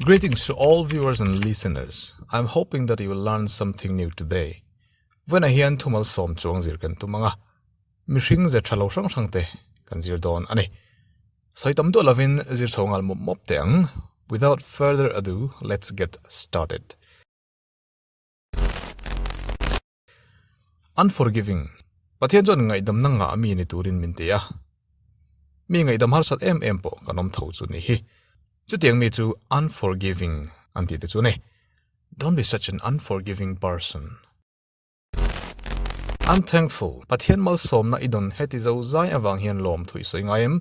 Greetings to all viewers and listeners. I'm hoping that you will learn something new today. Vena hian thumal sawm chuang zir kan tum anga. Mihring ze tha lo hrang hrang te kan zir dawn ani. Sawi tam duah lovin zir chho ngal mawp mawp te ang. Without further ado, let's get started. Unforgiving, Pathian chuan ngaihdamna ngah ami ni turin min ti a. Mi ngaihdam harsat em em pawh kan awm tho chu ni hi. Chutiang mi chu unforgiving an ti te chu ni. Don't be such an unforgiving person. Unthankful, Pathian malsawmna i dawn heti zo zai avang hian lawm thuih sawi ngai em?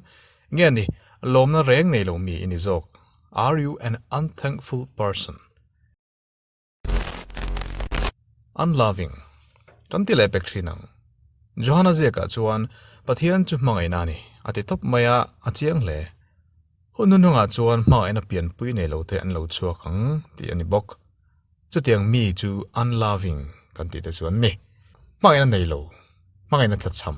Nge ni, lawmna reng nei lo mi i ni zawk? Are you an unthankful person? Unloving, kan ti leh pek thin ang. Johana ziakah chuan Pathian chu hmangaihna a ni, a ti tawp mai a, a chiang hle. Hunhun hmangah chuan hmangaihna pianpui nei lo te an lo chhuak ang tih a ni bawk. Chutiang mi chu unloving kan tih te chu an ni. Hmangaihna nei lo, hmangaihna thlachham.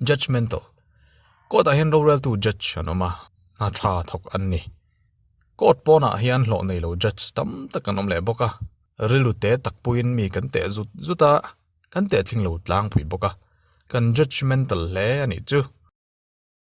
Judgemental, Court ah hian roreltu judge an awm a, hna tha thawk an ni. Court pawnah hian hlawh neilo judge tam tak an awm leh bawk a, rilute takpuiin mi kan teh zut zut a, kan tehtling lo tlangpui bawk a, kan judgemental hle a nih chu.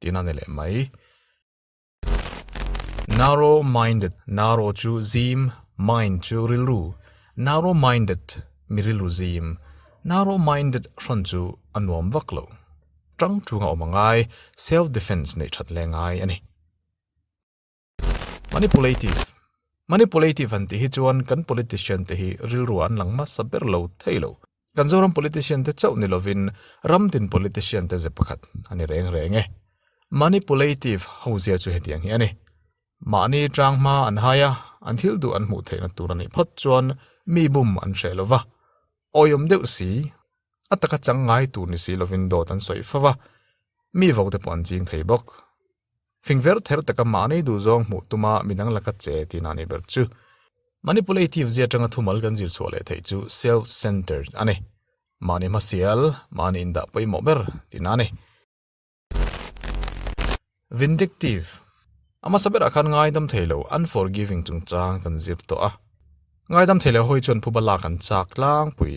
tiin a ni leh mai. Narrow minded, narrow chu zim, mind chu rilru, narrow minded mi rilru zim, narrow minded hran chu a nuam vak lo, ṭang ṭunga awm a ngai, self defence neih ṭhat le ngai a ni. Manipulative, Manipulative han tih hi chuan kan politician te hi rilrua an lang hmasa ber lo thei lo. Kan Zoram politician te chauh ni lovin ramdin politician te ze pakhat a ni reng reng e. Manipulative hozia chu hetiang hi a ni, Mahni tang hma an hai a, an thil duh an hmuh theihna tur a nih phawt chuan mi bum an hreh lo va, awiawm deuh si, a taka chang ngai tur ni si lovin dawt an sawi fo va, mi vote pawh an ching thei bawk. fing ver ther taka mah nei duh zawng hmuh tuma min ang la cut che tih na nei ber chu. Manipulative zia tanga thumal kan zir chhuah leh theih chu self centered a ni. Mahni hmasial, mahni indah pawimawh ber tih na nei. Vindictive, a hmasa berah khan ngaidam thei lo, unforgiving chungchang kan zir tawh a. Ngaidam thei lo hawi chuan phuba lak an chak tlangpui.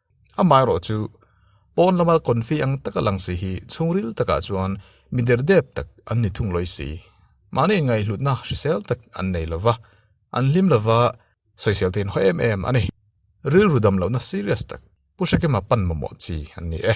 Amaherawh chu, pawn lama kawnfih ang taka lang si hi chhungril takah chuan mi derdep tak an ni thung lawi si. Mahni ngaihhlutna hrisel tak an nei lo va, an hlim lova sawisel tein haw em em a ni. Rilru dam lohna serious tak, pu Hrekema panmawmawh chi an ni e.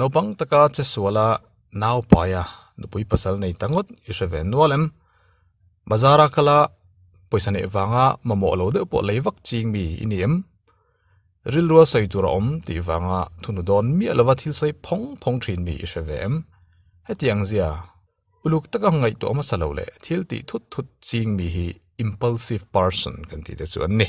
Naupang taka che sual a, Naupaia, nupui pasal nei ta ngawt i hre ve nual em? Bazar a kal a, pawisa neih vanga mamawh lo deuh pawh lei vak ching mi i ni em? Rilrual sawi tur a awm tih vanga thunu dawn miah lova thil sawi phawng phawng thin mi i hre ve em? Hetiang zia, uluk taka ngaihtuah hmasa lo leh thil tih thut thut ching mi hi impulsive person kan tih te chu an ni.